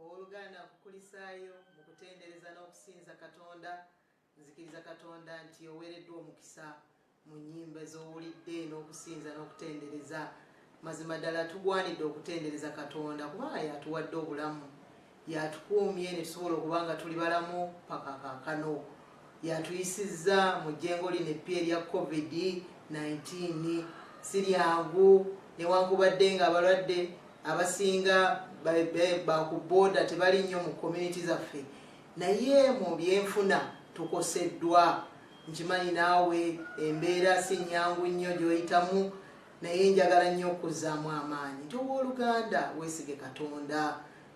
Ow'oluganda nkukulisaayo mu kutendereza n'okusinza Katonda. Nzikiriza Katonda nti oweereddwa omukisa mu nnyimba z'owulidde n'okusinza n'okutendereza. Mazima ddala tugwanidde okutendereza Katonda kubanga y'atuwadde obulamu, y'atukuumye ne tusobola okuba nga tuli balamu paka kaakano. Yatuyisizza mu jjengo lino eppya erya Covid nineteen. Siryangu newankubadde nga abalwadde abasinga bakuboda tebali nnyo mu community zaffe naye mu byenfuna tukoseddwa nkimanyi naawe embeera si nyangu nnyo gyoyitamu naye njagala nnyo okuzzaamu amaanyi nti owooluganda weesige katonda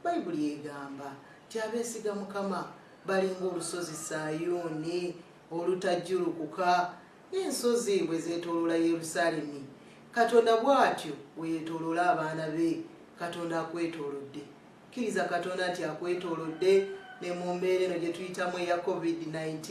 Bayibuli egamba nti abeesiga Mukama balinga olusozi Sayuuni olutajjulukuka, n'ensozi bwe zeetooloola Yerusaalemi. Katonda bw'atyo bwe yeetooloola abaana be. Katonda akwetoolodde. Kkiriza Katonda nti akwetoolodde ne mu mbeera eno gye tuyitamu eya COVID-19,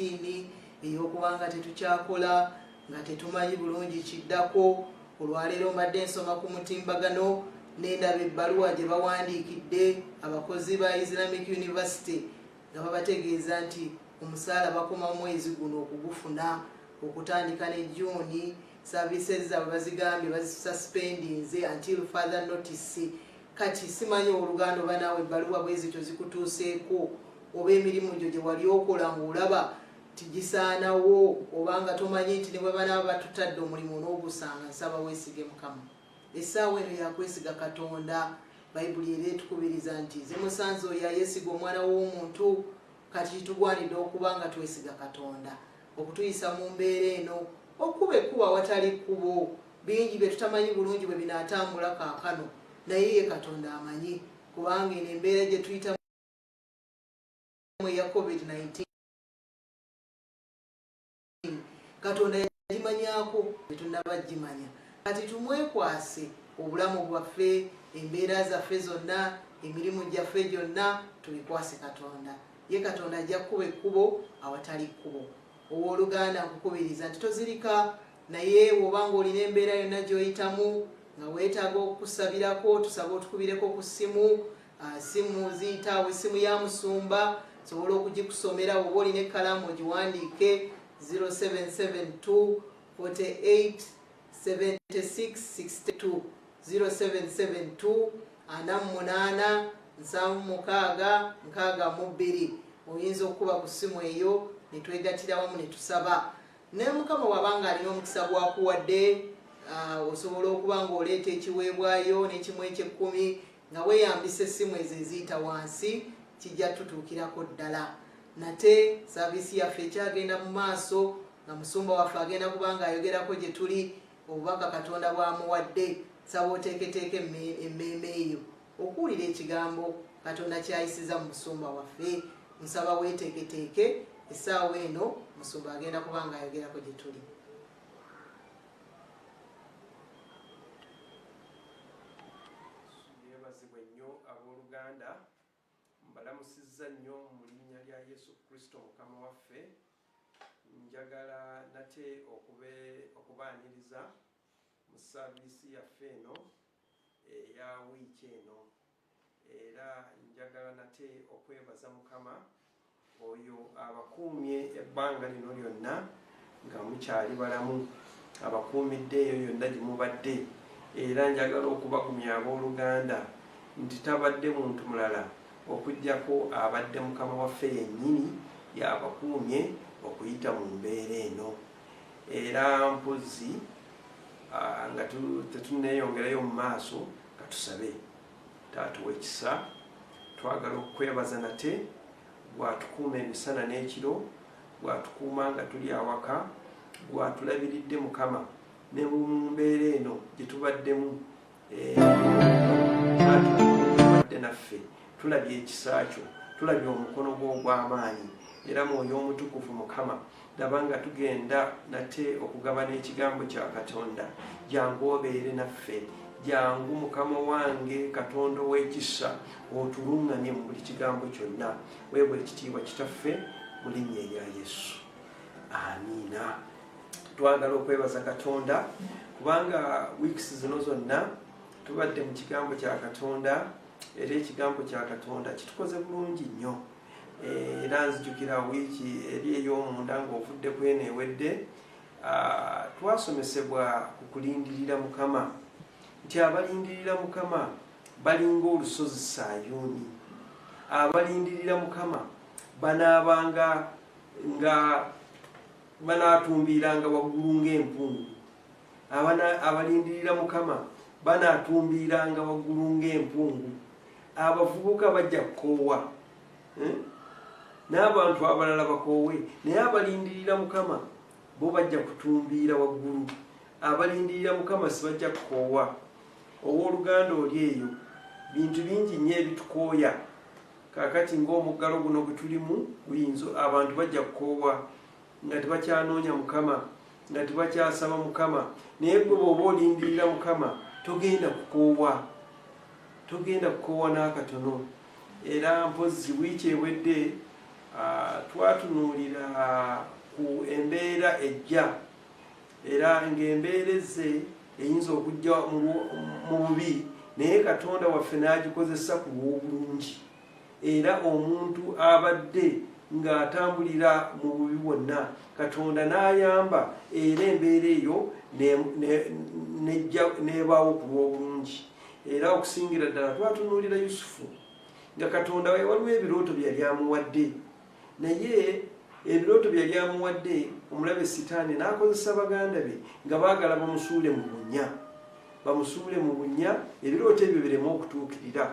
ey'okuba nga tetukyakola, Nga tetumanyi bulungi kiddako, olwaleero mbadde nsoma ku mutimbagano ne ndaba ebbaluwa gye bawandiikidde abakozi ba Islamic University nga babategeeza nti omusaala bakoma mwezi guno okugufuna okutandika ne June services zaabwe bazigambye bazisuspendinze until further notice kati simanyi oluganda oba naawe ebbaluwa bwezityo zikutuuseeko oba emirimu gyo gye wali okola ng'olaba nti gisaanawo oba nga tomanyi nti ne bwe banaaba batutadde omulimu onoogusanga nsaba weesige mukama essaawa eno yakwesiga katonda bayibuli era etukubiriza nti zimusanze oyo ayesiga omwana w'omuntu kati kitugwanidde okuba nga twesiga katonda okutuyisa mu mbeera eno okuba ekkuba awatali kkubo bingi bye tutamanyi bulungi bwe binaatambula kaakano naye ye katonda amanyi kubanga eno embeera gye tuyitamu eya covid-19 katonda yagimanyako tetunaba gimanya kati tumwekwase obulamu bwaffe embeera zaffe zonna emirimu gyaffe gyonna tubikwase katonda ye katonda ajja kukuba ekkubo awatali kkubo owoluganda nkukubiriza nti tozirika naye woba nga olina embeera yonna gyoyitamu nga weetaaga okusabirako tusaba otukubireko ku ssimu Simu ziyitaawo, essimu ya musumba nsobola okugikusomera woba olina ekkalaamu ogiwandiike 0772 48 76 62 0772 ana mu munaana nsanvu mukaaga nkaaga mu bbiri oyinza okukuba ku ssimu eyo ne twegatira wamu ne tusaba ne mukama wabanga alina omukisa gwakuwadde osobola okuba ng'oleeta ekiweebwayo n'ekimu ekyekkumi nga weyambisa essimu ezo eziyita wansi kijja tutuukirako ddala nate saaviisi yaffe ekyagenda mu maaso nga musumba waffe agenda kuba nga ayogerako gye tuli obubaka katonda bwamuwadde saba oteeketeeka emmeeme eyo okuwulira ekigambo katonda kyayisiza mu musumba waffe nsaba weeteeketeeke essaawa eno musumba agenda kuba nga ayogerako gye tuli Yeebazibwe nnyo ab'oluganda. Mbalamusizza nnyo mu linnya lya Yesu Kristo Mukama waffe. Njagala nate okubaaniriza mu saaviisi yaffe eno eya wiiki eno. Era njagala nate okwebaza Mukama oyo abakuumye ebbanga lino lyonna nga mukyali balamu, abakuumidde eyo yonna gye mubadde. Era njagala okubagumya ab'oluganda nti tabadde muntu mulala okuggyako abadde Mukama waffe yennyini y'abakuumye okuyita mu mbeera eno. Era mpozzi nga tetunneeyongerayo mu maaso, Katusabe. Taata ow'ekisa, twagala okukwebaza nate gwatukuuma emisana n'ekiro, gwatukuuma nga tuli awaka, gwatulabiridde Mukama ne mu mbeera eno gye tubaddemu wadde eh, naffe tulabye ekisa kyo, tulabye omukono gwo ogw'amaanyi era mwoyo omutukuvu Mukama laba nga tugenda nate okugabana ekigambo kya katonda jangu obeere naffe jangu mukama wange katonda ow'ekisa otuluŋŋamye mu buli kigambo kyonna weebwa ekitiibwa kitaffe mu linnya erya yesu amiina twagala okwebaza katonda kubanga weeks zino zonna tubadde mu kigambo kya katonda era ekigambo kya katonda kitukoze bulungi nnyo Era nzijukira wiiki eri ey'omunda ng'ovudde ku eno ewedde, twasomesebwa ku kulindirira Mukama, nti abalindirira Mukama balinga olusozi Sayuuni, abalindirira Mukama banaabanga nga banaatumbiiranga waggulu ng'empungu. abalindirira mukama banatumbiiranga waggulu ng'empungu abavubuka bajja kukoowa eh? n'abantu abalala bakoowe naye abalindirira mukama bo bajja kutumbiira waggulu abalindirira mukama sibajja kukoowa ow'oluganda oli eyo bintu bingi nnyo ebitukooya kakati ng'omuggalo guno gwe tulimu guyinza abantu bajja kukoowa nga tebakyanoonya mukama nga tebakyasaba mukama naye gwe bwoba olindirira mukama togenda kukoowa togenda kukoowa n'akatono era mpozzi wiiki ewedde twatunuulira ku embeera ejja era ng'embeera ezze eyinza okujja mu bubi naye katonda waffe n'agikozesa ku lw'obulungi era omuntu abadde ng'atambulira mu bubi bwonna katonda n'ayamba era embeera eyo n'ebaawo ku lw'obulungi era okusingira ddala twatunuulira yusufu nga katonda waliwo ebirooto byeyali amuwadde Naye ebirooto bye yali amuwadde omulabe Sitaani n'akozesa baganda be nga baagala bamusuule mu bunnya bamusuule mu bunnya ebirooto ebyo bireme okutuukirira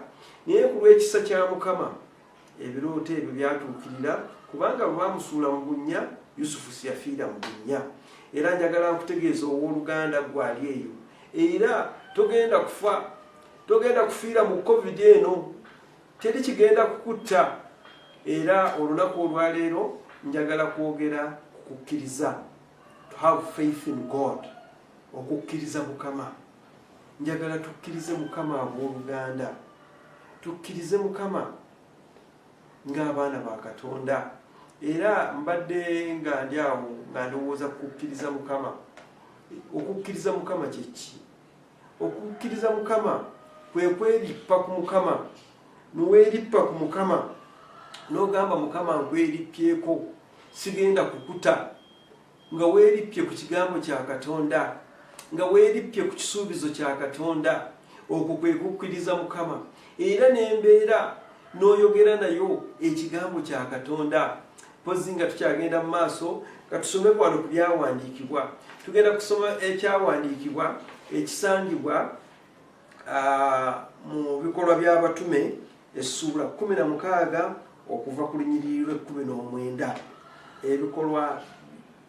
naye ku lw'ekisa kya mukama ebirooto ebyo byatuukirira kubanga bwe bamusuula mu bunnya yusufu siyafiira mu bunnya era njagala nkutegeeza ow'oluganda gwali eyo era togenda kufa togenda kufiira mu covid eno Teri kigenda kukutta era olunaku olwaleero njagala kwogera ku kukkiriza to have faith in God okukkiriza mukama njagala tukkirize mukama ab'oluganda tukkirize mukama ng'abaana ba katonda era mbadde nga ndi awo nga ndowooza kukukkiriza mukama okukkiriza mukama kyekki Okukkiriza Mukama kwe kwerippa ku Mukama, ne weerippa ku Mukama n'ogamba Mukama nkwerippyeko, sigenda kukuta, nga weerippye ku kigambo kya Katonda, nga weerippye ku kisuubizo kya Katonda. Okwo kwe kukkiriza Mukama era n'embeera n'oyogera nayo ekigambo kya Katonda. Mpozzi nga tukyagenda mu maaso nga tusome kwano ku byawandiikibwa, tugenda kusoma ekyawandiikibwa ekisangibwa mu bikolwa by'abatume essuula kumi na mukaaga okuva ku lunyiriri lw'ekkumi n'omwenda ebikolwa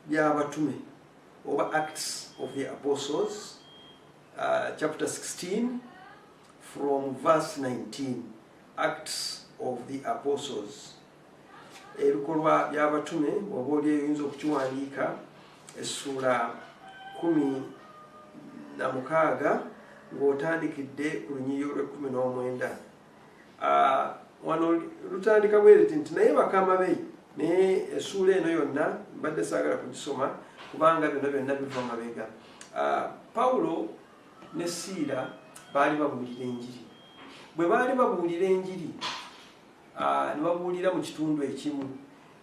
by'abatume oba acts of the apostles uh, chapter 16 from verse 19 acts of the apostles ebikolwa by'abatume bwoba oli eyinza okukiwandiika essuula kumi na mukaaga ng'otandikidde ku lunyiriri olw'ekkumi n'omwenda ah, wano lutandika bwereti nti naye bakama be naye essuula eno yonna mbadde saagala kugisoma kubanga byonna byonna biva mabega ah, pawulo ne siira baali babuulira enjiri bwe baali babuulira enjiri Ah, ne babuulira mu kitundu ekimu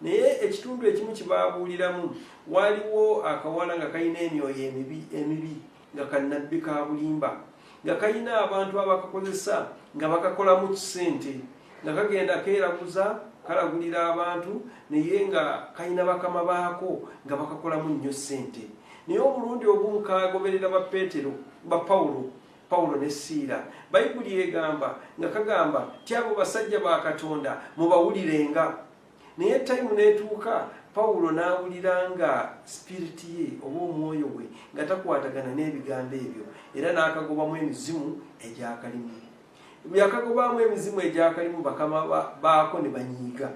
naye ekitundu ekimu kyebabuuliramu waaliwo akawala nga kalina emyoyo emibi emibi nga kanabbi ka bulimba nga kalina abantu abakakozesa nga bakakolamu kisente nga kagenda keeraguza kalagulira abantu naye nga kalina bakama baako nga bakakolamu nnyo ssente naye omulundi ogumu kagoberera ba petero ba pawulo Pawulo ne Siira, Bayibuli egamba nga kagamba ti abo basajja ba Katonda mubawulirenga. Naye tayimu n'etuuka Pawulo n'awulira nga sipiriti ye oba omwoyo gwe nga takwatagana n'ebigambo ebyo era n'akagobamu emizimu egyakalimu. Yakagobamu emizimu egyakalimu bakama baako ne banyiiga.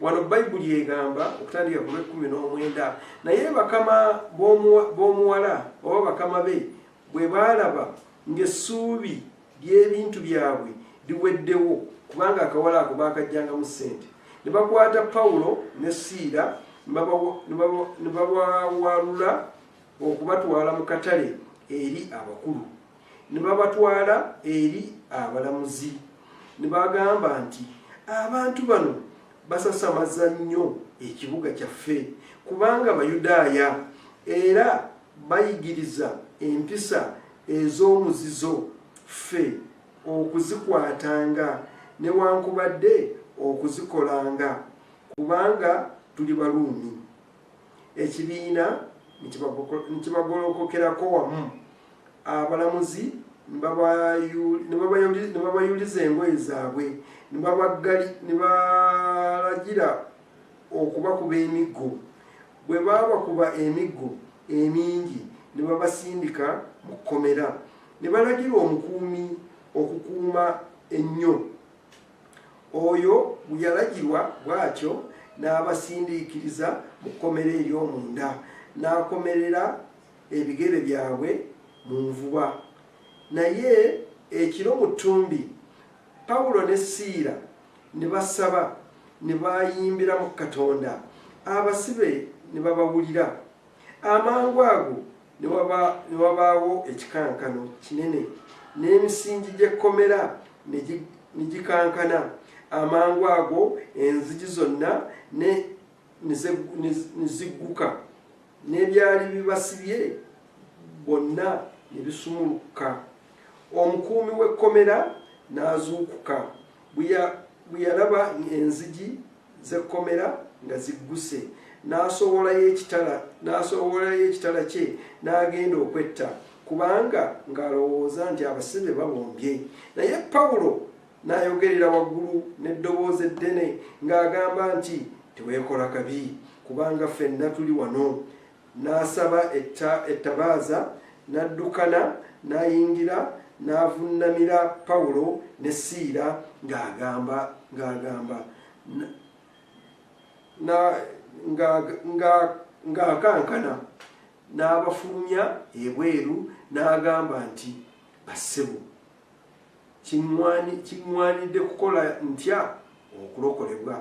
Wano Bayibuli egamba okutandika ku lw'ekkumi n'omwenda, naye bakama b'omuwala oba bakama be Bwe baalaba ng'essuubi ly'ebintu byabwe liweddewo, kubanga akawala ako baakaggyangamu ssente, ne bakwata Pawulo ne Siira ne babawalula okubatwala mu katale eri abakulu, ne babatwala eri abalamuzi, ne bagamba nti, Abantu bano basasamaza nnyo ekibuga kyaffe, kubanga Bayudaaya, era Bayigiriza empisa ez'omuzizo ffe okuzikwatanga newankubadde okuzikolanga kubanga tuli Baruumi. Ekibiina ne kibagolokokerako wamu, abalamuzi ne babayuliza engoye zaabwe ne balagira okubakuba emiggo. Bwe baabakuba emiggo emingi ne babasindika mu kkomera, ne balagira omukuumi okukuuma ennyo. Oyo bwe yalagirwa bw'atyo, n'abasindiikiriza mu kkomera ery'omunda, n'akomerera ebigere byabwe mu nvuba. Naye ekiro mu ttumbi. Pawulo ne Siira ne basaba ne bayimbira mu Katonda, abasibe ne babawulira. Amangu ago ne wabaawo ekikankano kinene, n'emisingi gy'ekkomera ne gikankana. Amangu ago enzigi zonna ne. ne zigguka n'ebyali bibasibye bonna ne bisumulukka omukuumi w'ekkomera n'azuukuka bwe yalaba enzigi z'ekkomera nga zigguse n'asowolayo ekitala n'asowolayo ekitala kye n'agenda okwetta kubanga ng'alowooza nti abasibe babombye naye pawulo N'ayogerera waggulu n'eddoboozi eddene ng'agamba nti, Teweekola kabi, kubanga ffenna tuli wano. N'asaba etta, ettabaaza, n'addukana, n'ayingira, n'avunnamira Pawulo ne Siira ng'agamba, ng'agamba, na, nga, nga, ng'akankana, n'abafulumya ebweru, n'agamba nti, Bassebo, Kiŋŋwanidde kukola ntya okulokolebwa?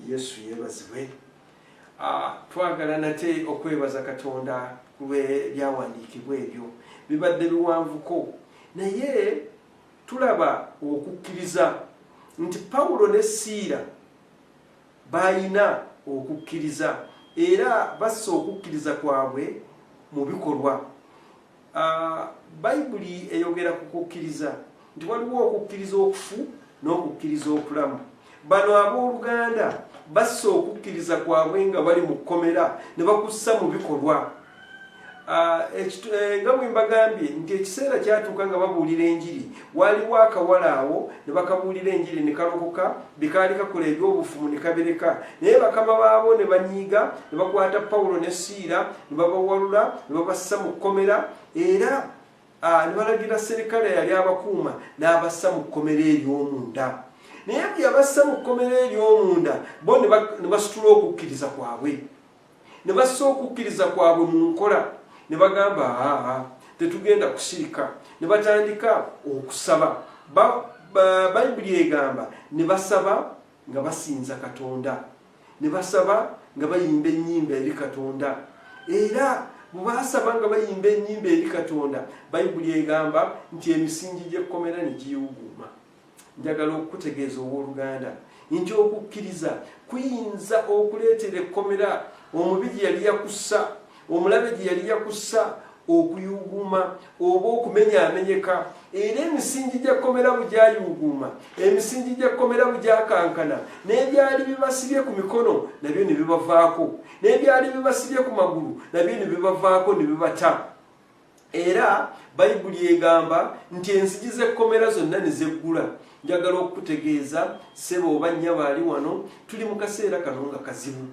Yesu yebazibwe. Ah, twagala nate okwebaza Katonda ku lw'ebyawandiikibwa ebyo. Bibadde biwanvuko, naye tulaba okukkiriza nti Pawulo ne Siira baalina okukkiriza era bassa okukkiriza kwabwe mu bikolwa. A, Bayibuli eyogera ku kukkiriza nti waliwo okukkiriza okufu n'okukkiriza okulamu. Bano ab'oluganda bassa okukkiriza kwabwe nga bali mu kkomera ne bakussa mu bikolwa. Ah, eh, nga bwe mbagambye nti ekiseera kyatuuka nga babuulira enjiri Waaliwo akawala awo, ne bakabuulira Enjiri, ne kalokoka, bye kaali kakola eby'obufumu ne kabireka. Naye bakama baabo ne banyiiga, ne bakwata Pawulo ne Siira, ne babawalula, ne babassa mu kkomera, era Ah, ne balagira serikale yali abakuuma n'abassa mu kkomera ery'omunda naye bwe yabassa mu kkomera ery'omunda bo ne basitula okukkiriza kwabwe ne bassa okukkiriza kwabwe mu nkola ne bagamba aa tetugenda kusirika ne batandika okusaba bayibuli egamba ne basaba nga basinza katonda ne basaba nga bayimba ennyimba eri katonda era bwebasaba nga bayimba ennyimba eri katonda bayibuli egamba nti emisingi gy'ekkomera ne giwuguuma Njagala okukutegeeza, ow'oluganda, nti okukkiriza kuyinza okuleetera ekkomera omubi gye yali yakussa, omulabe gye yali yakussa, okuyuuguuma oba okumenyaamenyeka. Era emisingi gya kkomera bwe gyayuuguuma, emisingi gya kkomera bwe gyakankana, n'ebyali bibasibye ku mikono nabyo ne bibavaako, n'ebyali bibasibye ku magulu nabyo ne bibavaako ne bibata. Era Bayibuli egamba nti enzigi z'ekkomera zonna ne zeggula. Njagala okukutegeeza ssebo oba nnyabo ali wano, tuli mu kaseera kano nga kazibu.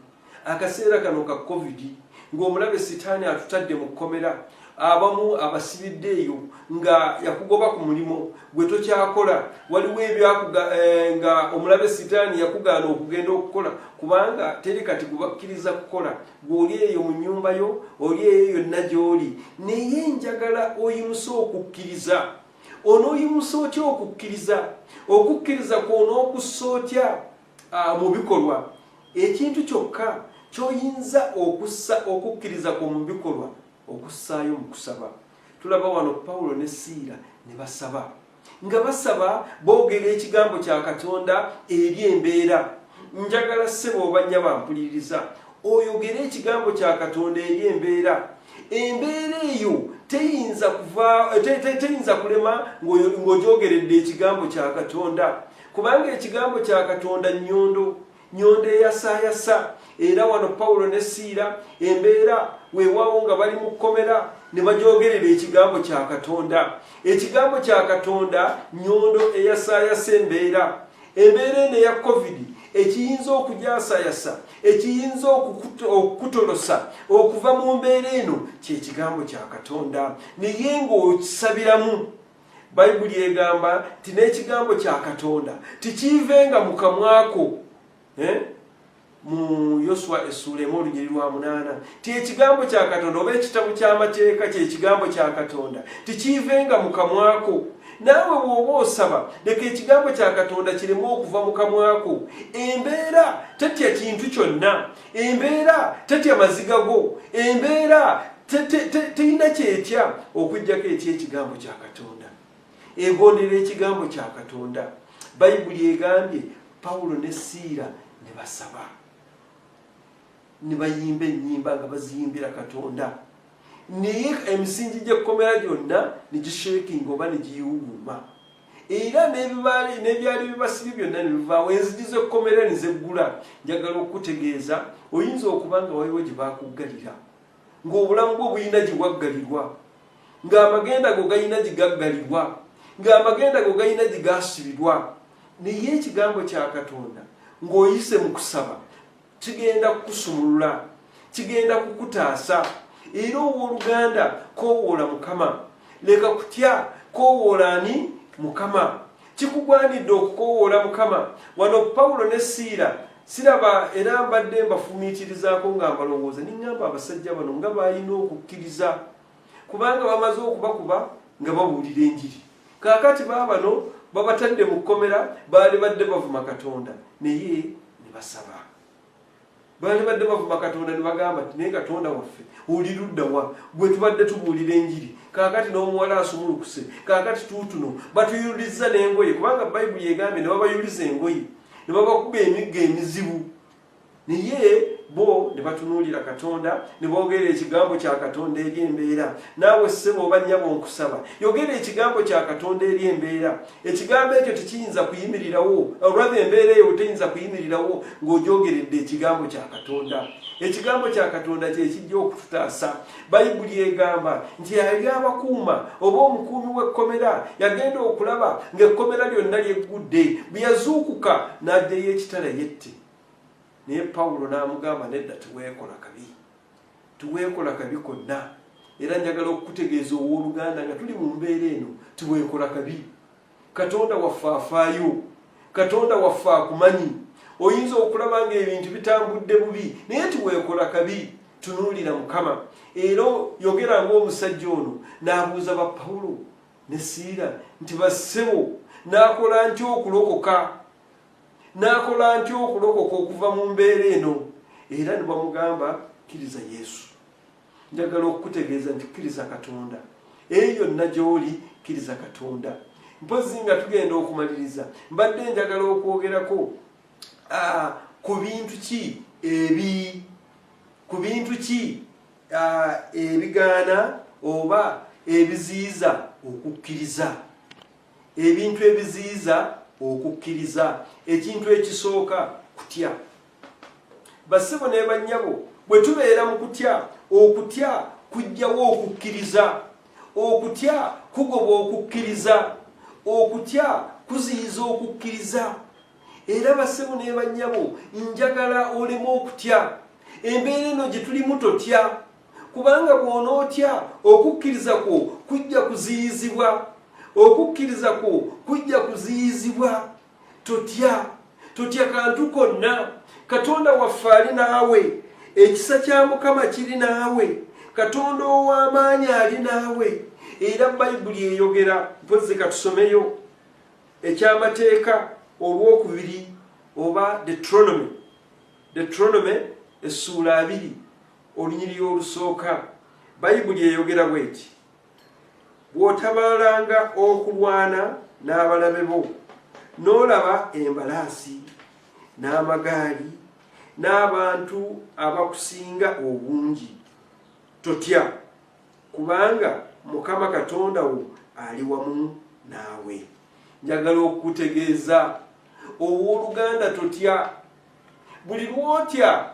Akaseera kano ka Covid, ng'omulabe Sitaani atutadde mu kkomera, abamu abasibidde eyo nga yakugoba ku mulimu gwe tokyakola waliwo ebyakuga eh, nga omulabe sitaani yakugaana okugenda okukola kubanga teri kati gubakkiriza kukola Ggwe oli eyo mu nnyumba yo, oli eyo yonna gy'oli, naye njagala oyimuse okukkiriza. Onooyimusa otya okukkiriza? Okukkiriza kw'onookussa otya ah, mu bikolwa? Ekintu kyokka ky'oyinza okussa okukkiriza kwo mu bikolwa, okussaayo mu kusaba. Tulaba wano Pawulo ne Siira ne basaba. nga basaba boogera ekigambo kya katonda eri embeera njagala ssebo oba nnya bampuliriza oyogere ekigambo kya katonda eri embeera embeera eyo teyinza kuva teyinza kulema ng'ogyogeredde ekigambo kya katonda kubanga ekigambo kya katonda nnyondo nyondo eyasayasa era wano pawulo ne siira embeera weewaawo nga bali mu kkomera ne bagyogerera ekigambo kya katonda ekigambo kya katonda nyondo eyasayasa embeera embeera eno eya covid ekiyinza okugyasayasa ekiyinza okukutolosa okuva mu mbeera eno kyekigambo kya katonda naye ngaokisabiramu bayibuli egamba nti n'ekigambo kya katonda tikiivenga mu kamwako eh? mu yoswa essuula emu olunyiri lwa munaana ti ekigambo kya katonda oba ekitabo ky'amateeka kyekigambo kya katonda tikiivenga mu kamwako naawe bw'oba osaba leka ekigambo kya katonda kiremu okuva mu kamwako embeera tetya kintu kyonna embeera tetya maziga go embeera terina kyetya okujjako ekyekigambo kya katonda egondera ekigambo kya katonda bayibuli egambye pawulo ne siira ne basaba ne bayimba ennyimba nga baziyimbira katonda naye emisingi gy'ekkomera gyonna ne gishekinga oba ne giyiwuguma era n'ebibaali n'ebyali bibasibye byonna ne bivaawo enzigi z'ekkomera ne zeggula njagala okukutegeeza oyinza okuba nga waliwo gye baakuggalira ng'obulamu bwo bulina gye waggalirwa ng'amagenda go galina gye gaggalirwa ng'amagenda go galina gye gaasibirwa naye ekigambo kya katonda ng'oyise mu kusaba kigenda kukusumulula kigenda kukutaasa era ow'oluganda kowoola mukama leka kutya kowoola ani mukama kikugwanidde okukowoola mukama wano pawulo ne siira siraba era mbadde mbafumiitirizaako nga mbalowooza ningamba abasajja bano nga balina okukkiriza kubanga bamaze okubakuba nga babuulira enjiri kakati baabano babatadde mu kkomera baali badde bavuma katonda naye ne basaba baali badde bavuma katonda ne bagamba nti naye katonda waffe oli luddawa gwe tubadde tubuulira enjiri kakati n'omuwala asumulukuse kakati tuutuno batuyulizza n'engoye kubanga bayibuli egambye ne babayuliza engoye ne babakuba emigga emizibu Naye bo ne batunuulira Katonda ne boogerera ekigambo kya Katonda eri embeera. Naawe ssebo oba nnyabo nkusaba, yogera ekigambo kya Katonda eri embeera. Ekigambo ekyo tekiyinza kuyimirirawo, olwava embeera eyo teyinza kuyimirirawo ng'ogyogeredde ekigambo kya Katonda. Ekigambo kya Katonda kye kijja okututaasa. Bayibuli egamba nti yali abakuuma oba omukuumi w'ekkomera yagenda okulaba ng'ekkomera lyonna lyeggudde. Bwe yazuukuka n'aggyayo ekitala yette. naye pawulo n'amugamba nedda tiweekola kabi tiweekola kabi konna era njagala okukutegeeza ow'oluganda nga tuli mu mbeera eno tiweekola kabi katonda waffe afaayo katonda waffe akumanyi oyinza okulaba nga ebintu bitambudde bubi naye tiweekola kabi tunuulira mukama era yogera ngaomusajja ono n'abuuza ba pawulo ne siira nti bassebo n'akola ntya okulokoka N'akola ntya okulokoka okuva mu mbeera eno? Era ne bamugamba, Kkiriza Yesu. Njagala okukutegeeza nti kkiriza Katonda. Eyo yonna gy'oli, kkiriza Katonda. Mpozzi nga tugenda okumaliriza, mbadde njagala okwogerako ah, ku bintu ki ebi ku bintu ki ah, ebigaana oba ebiziyiza okukkiriza. ebintu ebiziyiza okukkiriza ekintu ekisooka kutya bassebo ne bannyabo bwe tubeera mu kutya okutya kujjawo okukkiriza okutya kugoba okukkiriza okutya kuziyiza okukkiriza era bassebo ne bannyabo njagala oleme okutya embeera eno gye tulimu totya kubanga bw'onootya okukkiriza kwo kujja kuziyizibwa okukkiriza kwo kujja kuziyizibwa totya totya kantu konna katonda waffe ali naawe ekisa kya mukama kiri naawe katonda ow'amaanyi ali naawe era bayibuli eyogera mpozi katusomeyo ekyamateeka olwokubiri oba detronomy detronomy essuula abiri Olunyiriri olusooka, Bayibuli eyogera bw'eti, Bw'otabaalanga okulwana n'abalabe bo, n'olaba embalaasi, n'amagaali, n'abantu abakusinga obungi, totya, kubanga Mukama Katonda wo ali wamu naawe. Njagala okukutegeeza, ow'oluganda, totya. buli lwotya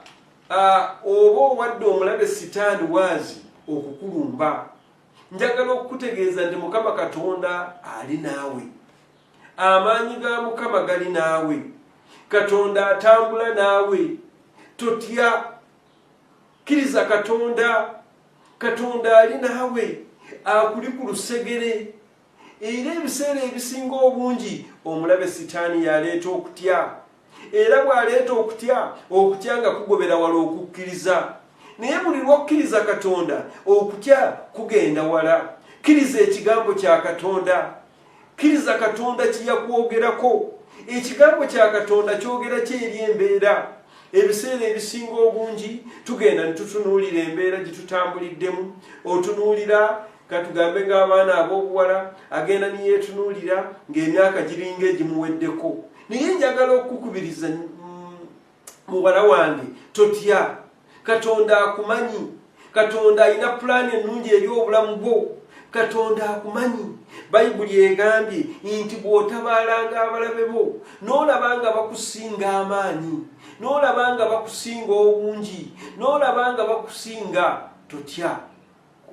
oba owadde omulabe sitaani waazi okukulumba njagala okukutegeeza nti mukama katonda ali naawe amaanyi ga mukama gali naawe katonda atambula naawe totya kkiriza katonda katonda ali naawe akuli ku lusegere Era ebiseera ebisinga obungi omulabe sitaani y'aleeta okutya. Era bw'aleeta okutya, okutya nga kugobera wala okukkiriza. Naye buli lw'okkiriza Katonda, okutya kugenda wala. Kkiriza Ekigambo kya Katonda. Kkiriza Katonda kye yakwogerako. Ekigambo kya Katonda kyogera ki eri embeera? ebiseera ebisinga obungi tugenda ne tutunuulira embeera gye tutambuliddemu otunuulira katugambe ng'abaana ab'obuwala agenda niyeetunuulira ng'emyaka giringa egimuweddeko naye njagala okukukubiriza mm, muwala wange totya katonda akumanyi katonda alina pulaani ennungi eri obulamu bwo katonda akumanyi bayibuli egambye nti bw'otabaalanga abalabe bo n'olaba nga bakusinga amaanyi n'olaba nga bakusinga obungi n'olaba nga bakusinga totya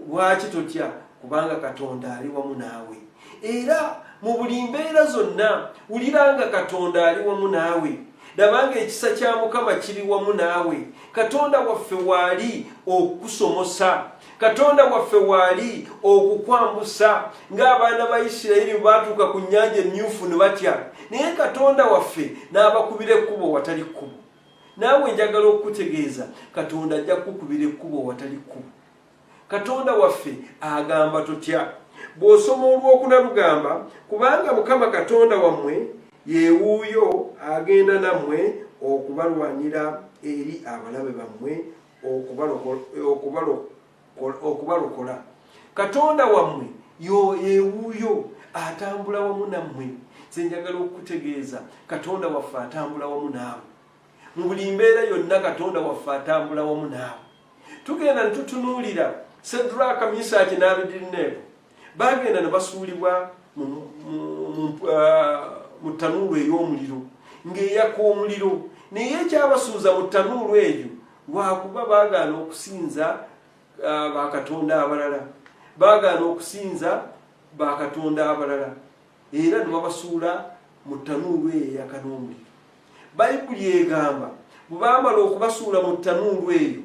Lwaki totya? Kubanga Katonda ali wamu naawe. Era mu buli mbeera zonna, wulira nga Katonda ali wamu naawe. Laba ng'ekisa kya Mukama kiri wamu naawe. Katonda waffe waali okukusomosa. Katonda waffe waali okukwambusa. Ng'abaana ba Isirayiri baatuuka ku nnyanja emmyufu ne batya, naye Katonda waffe n'abakubira ekkubo watali kkubo. naawe njagala okukutegeeza katonda ajja kukubira ekkubo watali kkubo katonda waffe agamba totya bw'osoma olwokuna lugamba kubanga mukama katonda wammwe yewuuyo agenda nammwe okubalwanira eri abalabe bammwe okubalokola okubalokola katonda wammwe yewuuyo atambula wamu nammwe zenjagala okukutegeeza katonda waffe atambula wamu naawe mu buli mbeera yonna katonda waffe atambula wamu naawe tugenda ne tutunuulira sedraka misaki n'abidirneebo bagenda ne basuulibwa mu uh, tanuulu ey'omuliro ng'eyaka omuliro naye ekyabasuuza mu tanuulu eyo lwakuba bagaana okusinza uh, bakatonda abalala bagaana okusinza bakatonda abalala era nebabasuula mu tanuulu eyo eyakanomuliro bayibuli egamba bwebamala okubasuula mu tanuulu eyo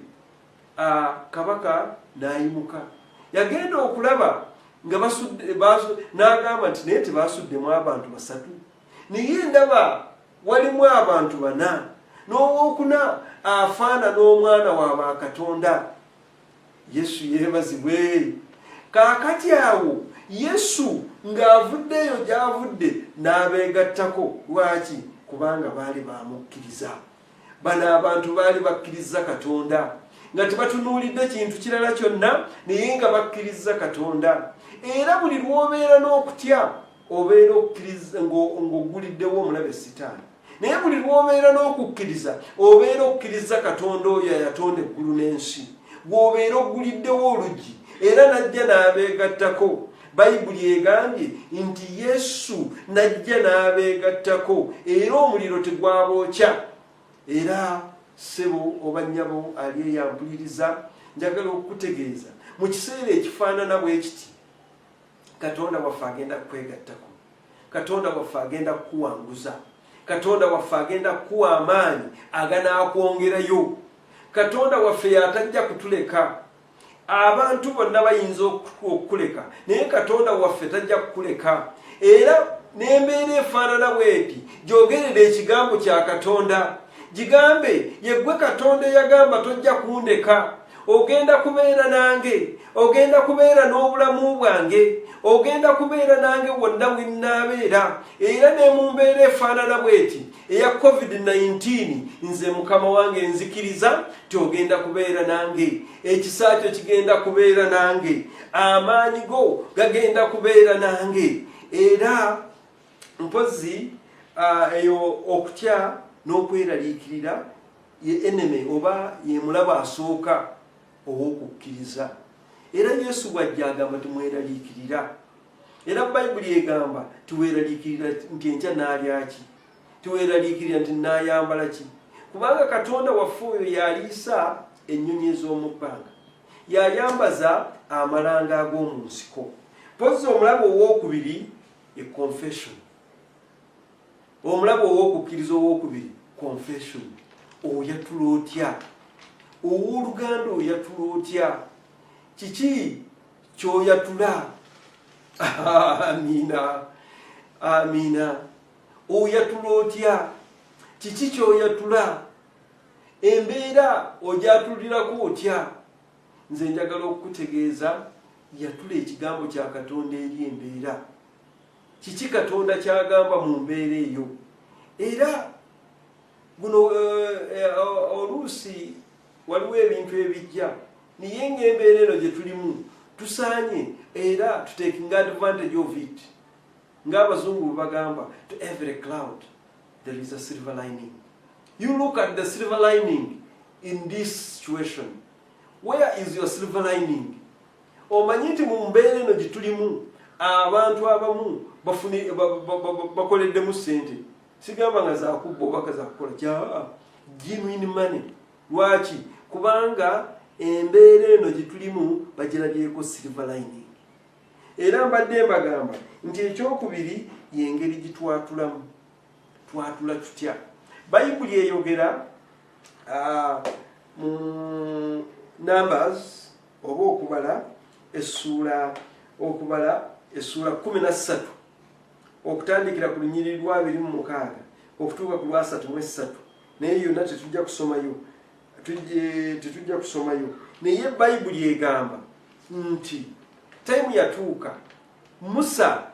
uh, kabaka nayimuka yagenda okulaba nga basudde nagamba nti naye tebasuddemu abantu basatu naye ndaba walimu abantu bana n'owokuna afaana n'omwana wa bakatonda yesu yebazibwe kaakati awo yesu ng'avuddeeyo gy'avudde n'abeegattako lwaki kubanga baali baamukkiriza bano abantu baali bakkiriza katonda nga tebatunuulidde kintu kirala kyonna naye nga bakkiriza katonda era buli lw'obeera n'okutya obeera okkiriza ng'ogguliddewo omulabe sitaani naye buli lw'obeera n'okukkiriza obeera okkiriza katonda oyo ayatonda eggulu n'ensi gw'obeera ogguliddewo oluggi era n'ajja n'abeegattako bayibuli egambye nti yesu n'ajja n'abeegattako era omuliro tegwabookya era ssebo oba nnyabo ali eyampuliriza njagala okukutegeeza mu kiseera ekifaanana bwe kiti katonda waffe agenda kukwegattako katonda waffe agenda kukuwanguza katonda waffe agenda kukuwa amaanyi aganaakwongerayo katonda waffe yatajja kutuleka abantu bonna bayinza okukuleka naye katonda waffe tajja kukuleka era n'embeera efaanana bweti gyogerera ekigambo kya katonda gigambe yeggwe katonda eyagamba tojja kundeka ogenda kubeera nange ogenda kubeera n'obulamu bwange ogenda kubeera nange wonna winnaabeera era ne mu mbeera efaanana bweti eya covid-19 nze mukama wange nzikiriza ti ogenda kubeera nange ekisa kyo kigenda kubeera nange amaanyi go gagenda kubeera nange era mpozi ah, eyo okutya n'okweraliikirira Ye enemy oba yemulaba asooka ow'okukkiriza. Era Yesu bw'ajja agamba timweraliikirira. Era Bayibuli egamba tiweraliikirira nti enkya naalya ki, tiweraliikirira nti naayambala ki, kubanga Katonda waffe oyo y'aliisa ennyonyi ez'omu bbanga, y'ayambaza amalanga ag'omu nsiko. Mpozzi omulabo ow'okubiri ye confession. Omulabe ow'okukkiriza ow'okubiri, confession, oyatula otya? Ow'oluganda oyatula otya? Kiki ky'oyatula? Amiina, amiina. Oyatula otya? Kiki ky'oyatula? Embeera ogyatulirako otya? Nze njagala okukutegeeza yatula ekigambo kya Katonda eri embeera. Kiki Katonda ky'agamba mu mbeera eyo? Era guno eh, eh, oluusi waliwo ebintu ebijja naye ng'embeera eno gye tulimu tusaanye era tutekinga advantage of it ng'abazungu bwe bagamba to every cloud there is a silver lining you look at the silver lining in this situation where is your silver lining Omanyi nti mu mbeera eno gye tulimu abantu abamu bakoleddemu ssente sigamba nga zakubba obaka zakukola kya genuine money lwaki kubanga embeera eno gye tulimu bagirabyeko silver lining era mbadde mbagamba nti ekyokubiri yengeri gitwatulamu twatula tutya bayibuli eyogera ah, mu numbers oba okubala essuula okubala essuula kumi na ssatu okutandikira ku lunyiriri lwabiri mu mukaaga okutuuka ku lwasatu mu essatu naye yonna tetujja kusomayo tetujja kusomayo naye bayibuli egamba nti taimu yatuuka musa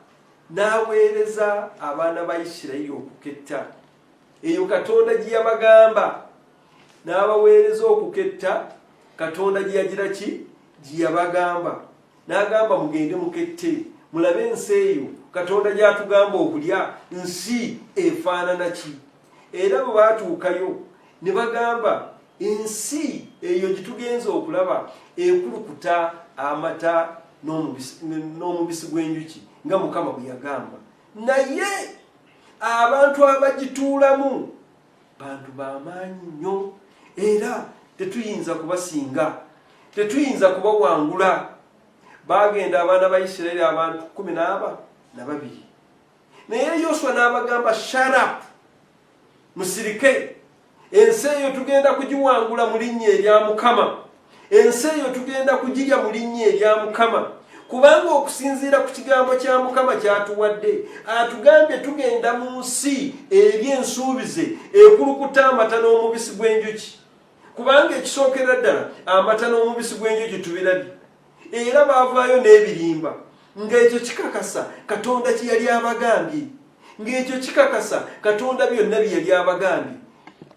n'aweereza abaana ba isirayiri okuketta eyo katonda gye yabagamba n'abaweereza okuketta katonda gye yagira ki gye yabagamba n'agamba mugende mukette mulabe ensi eyo katonda gy'atugamba okulya nsi efaanana ki era bwe baatuukayo ne bagamba ensi eyo gye tugenza okulaba ekulukuta amata n'omubisi gw'enjuki nga mukama bwe yagamba naye abantu abagituulamu bantu bamaanyi nnyo era tetuyinza kubasinga tetuyinza kubawangula bagenda abaana ba isirairi abantu kumi naaba nababiri naye yoswa n'abagamba sharap musirike ensi eyo tugenda kugiwangula mu linnya erya mukama Ensi eyo tugenda kugirya mu linnya erya Mukama, kubanga okusinziira ku kigambo kya Mukama ky'atuwadde, atugambye tugenda mu nsi eri ensuubize ekulukuta amata n'omubisi gw'enjuki, kubanga ekisookera ddala amata n'omubisi gw'enjuki tubirabye. Era baavaayo n'ebirimba ng'ekyo kikakasa Katonda kye yali abagambye. ng'ekyo kikakasa katonda byonna bye yali abagambye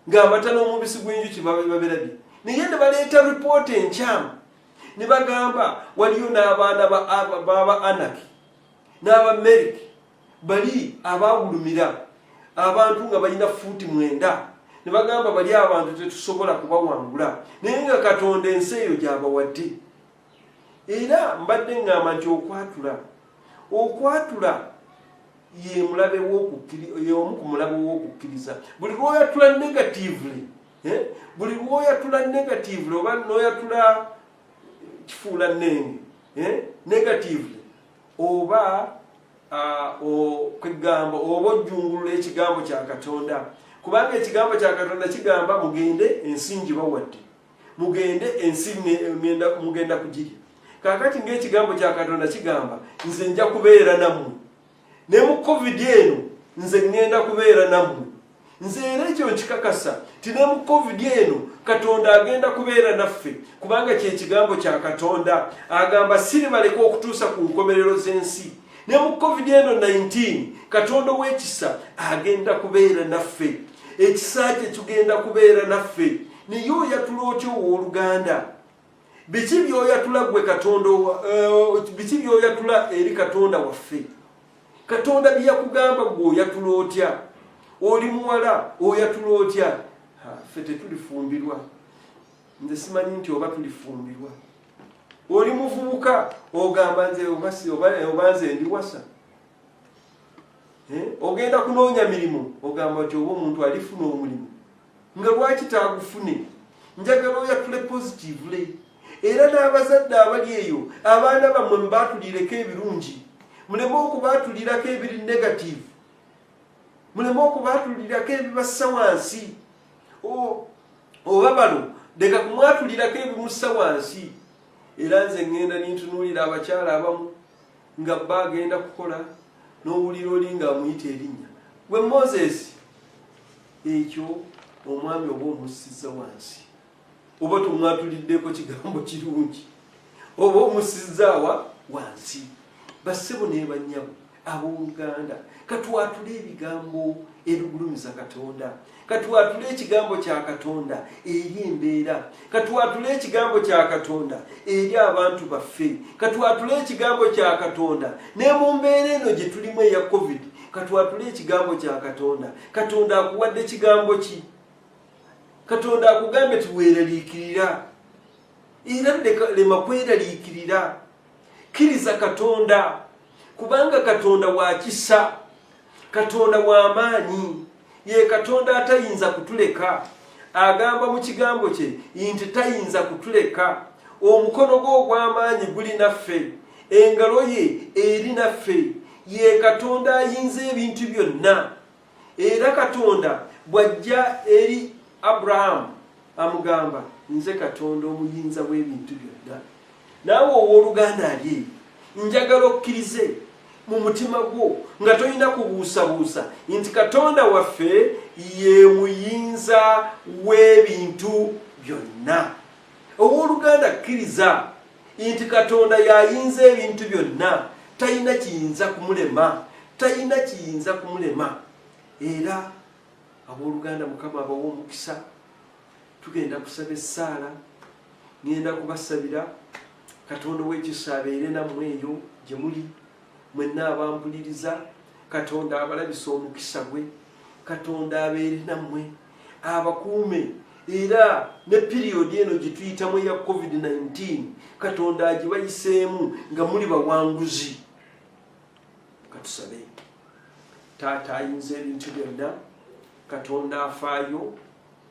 ng'amata n'omubisi gw'enjuki baberabye naye ne baleeta ripoota enkyamu ne bagamba waliyo n'abaana baba anaki n'aba meriki bali abaawulumira abantu nga balina fuuti mwenda ne bagamba bali abantu tetusobola kubawangula naye nga katonda ensi eyo gyabawadde Era mbadde ŋŋamba nti okwatula, okwatula ye mulabe w'okukkiri, ye omu ku mulabe w'okukkiriza. Buli lw'oyatula negatively, eh, buli lw'oyatula negatively oba n'oyatula kifuula nnenge eh, negatively oba ah, kwegamba oba ojjungulula ekigambo kya katonda kubanga ekigambo kya katonda kigamba mugende ensingi bawadde mugende ensi ŋŋenda mugenda kugirya kaakati ng'ekigambo kya katonda kigamba nze nja kubeera nammwe ne mu covid eno nze ŋŋenda kubeera nammwe nze era ekyo nkikakasa ti ne mu covid eno katonda agenda kubeera naffe kubanga kyekigambo kya katonda agamba siribaleka okutuusa ku nkomerero z'ensi ne mu covid eno 19 katonda ow'ekisa agenda kubeera naffe ekisa kye kigenda kubeera naffe naye oyatula otya owoluganda biki byoyatula gwe katonda eh, biki byoyatula eri katonda waffe katonda byeyakugamba gwe oyatula otya oli muwala oyatula otya ffe tetulifumbirwa nze simanyi nti oba tulifumbirwa oli muvubuka ogamba nze oba nze ndiwasa eh, ogenda kunoonya mirimu ogamba nti oba omuntu alifuna omulimu nga lwaki taagufune njagala oyatule positively era n'abazadde abali eyo abaana bammwe mubaatulireko ebirungi muleme okubaatulirako ebiri negative muleme okubaatulirako ebibassa wansi oba balo leka kumwatulirako ebimussa wansi era nze ŋŋenda nintunuulira abakyala abamu nga bba agenda kukola n'owulira oli ng'amuyita erinnya gwe moses Ekyo omwami oba omussiza wansi oba tomwatuliddeko kigambo kirungi oba omusizaawa wansi bassebo nebanyabo ab'oluganda katwatule ebigambo ebigulumiza katonda katwatule ekigambo kya katonda eri embeera katwatule ekigambo kya katonda eri abantu baffe katwatule ekigambo kya katonda ne mu mbeera eno gye tulimu eya covid katwatule ekigambo kya katonda katonda akuwadde kigambo ki katonda akugambye tiweraliikirira era lema kweraliikirira kkiriza katonda kubanga katonda wakisa katonda wamaanyi ye katonda atayinza kutuleka agamba mu kigambo kye nti tayinza kutuleka omukono gwe ogw'amaanyi guli naffe engalo ye eri naffe ye katonda ayinza ebintu byonna era katonda bw'ajja eri abrahamu amugamba nze katonda omuyinza w'ebintu byonna naawe ow'oluganda ali eyo njagala okkirize mu mutima gwo nga tolina kubuusabuusa nti katonda waffe ye muyinza w'ebintu byonna Ow'oluganda, kkiriza nti Katonda y'ayinza ebintu byonna. Talina kiyinza kumulema, talina kiyinza kumulema. Era ab'oluganda, Mukama abawa omukisa. Tugenda kusaba essaala, ŋŋenda kubasabira. Katonda ow'ekisa abeere nammwe eyo gye muli, mwenna abampuliriza. Katonda abalabise omukisa gwe. Katonda abeere nammwe. abakuume era ne piriyodi eno gye tuyitamu eya covid-19 katonda agibayiseemu nga muli bawanguzi katusabe taata ayinza ebintu byonna katonda afaayo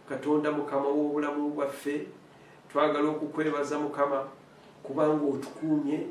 katonda mukama w'obulamu bwaffe twagala okukwebaza mukama kubanga otukuumye,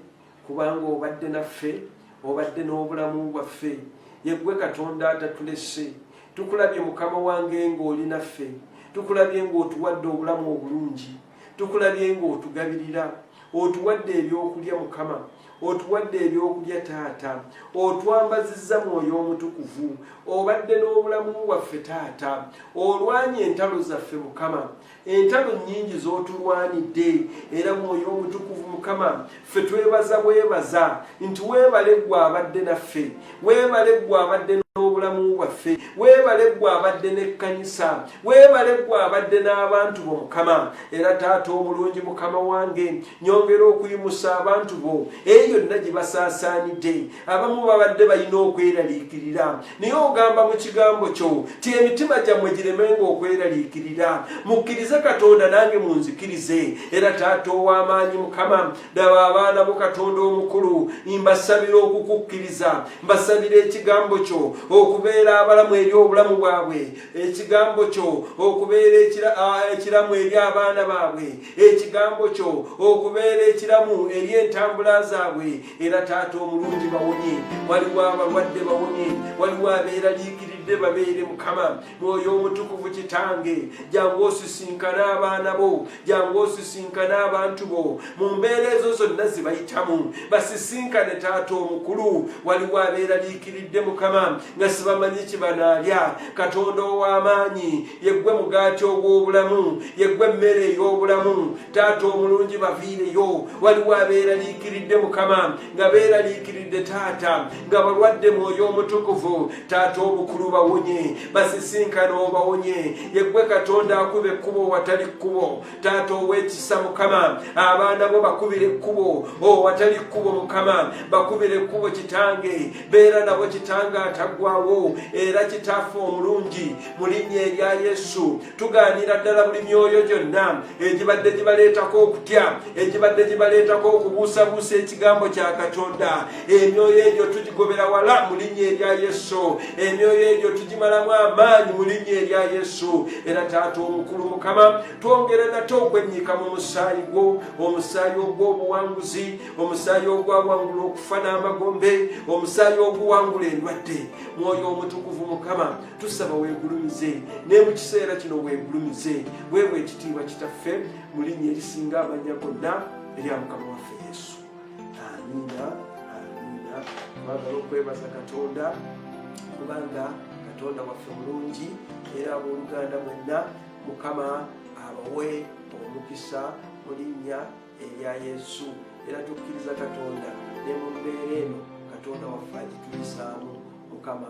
kubanga obadde naffe, obadde n'obulamu bwaffe. Yeggwe Katonda atatulese. Tukulabye mukama wange ng'oli naffe. Tukulabye ng'otuwadde obulamu obulungi. Tukulabye ng'otugabirira. Otuwadde ebyokulya mukama. Otuwadde ebyokulya taata. Otwambazizza mwoyo omutukuvu. Obadde n'obulamu bwaffe taata. Olwanye entalo zaffe mukama. entalo nyingi zotulwanidde era mwoyo omutukuvu mukama ffe twebaza bwebaza nti webale gwe abadde naffe webale gwe abadde n'obulamu bwaffe webale gwe abadde n'ekkanisa webale gwe abadde n'abantu bo mukama era taata omulungi mukama wange nyongera okuyimusa abantu bo eyo yonna gye basaasaanidde abamu babadde balina okweraliikirira naye ogamba mu kigambo kyo ti emitima gyammwe giremenga okweraliikirira mukkirize katonda nange munzikirize era taata ow'amaanyi mukama daba abaana bo katonda omukulu mbasabira okukukkiriza mbasabira ekigambo kyo okubeera abalamu eri obulamu bwabwe ekigambo kyo okubeera ekiramu eri abaana baabwe ekigambo kyo okubeera ekiramu eri entambula zaabwe era taata omulungi bawonye waliwo abalwadde bawonye waliwo abeeraliikiridde babeere mukama mwoyo omutukuvu kitange jangu osisinkana abaana bo jangu osisinkana abantu bo mu mbeera ezo zonna zibayitamu basisinkane taata omukulu waliwo abeeraliikiridde mukama nga sibamanyi kibanaalya katonda ow'amaanyi yeggwe mugaati ogw'obulamu yeggwe emmere ey'obulamu taata omulungi baviireyo waliwo abeeraliikiridde mukama nga beeraliikiridde taata nga balwadde mwoyo omutukuvu taata obukulu bawonye basisinkana obawonye yeggwe katonda akuba ekkubo watali kkubo taata ow'ekisa mukama abaana bo bakubira ekkubo o oh, watali kkubo mukama bakubira ekkubo kitange beera nabo kitange ataggwawo era kitaffe omulungi mu linnya erya yesu tugaanira ddala buli myoyo gyonna egibadde gibaleetako okutya egibadde gibaleetako okubuusabuusa ekigambo kya katonda emyoyo egyo tugigobera wala mu linnya erya yesu emyoyo egyo tugimalamu amaanyi mu linnya erya yesu era taata omukulu mukama twongere nate okwennyika mu musaayi gwo omusaayi ogw'obuwanguzi omusaayi ogwawangula okufa n'amagombe omusaayi oguwangula endwadde mwoyo omutukuvu mukama tusaba wegulumize naye mu kiseera kino wegulumize weewa ekitiibwa kitaffe mu linnya erisinga amanya gonna erya mukama waffe yesu amiina amiina twagala okwebaza katonda kubanga katonda waffe mulungi era abooluganda mwenna mukama abawe omukisa mu linnya erya yesu era tukkiriza katonda ne mu mbeera eno katonda waffe agituyisaamu mukama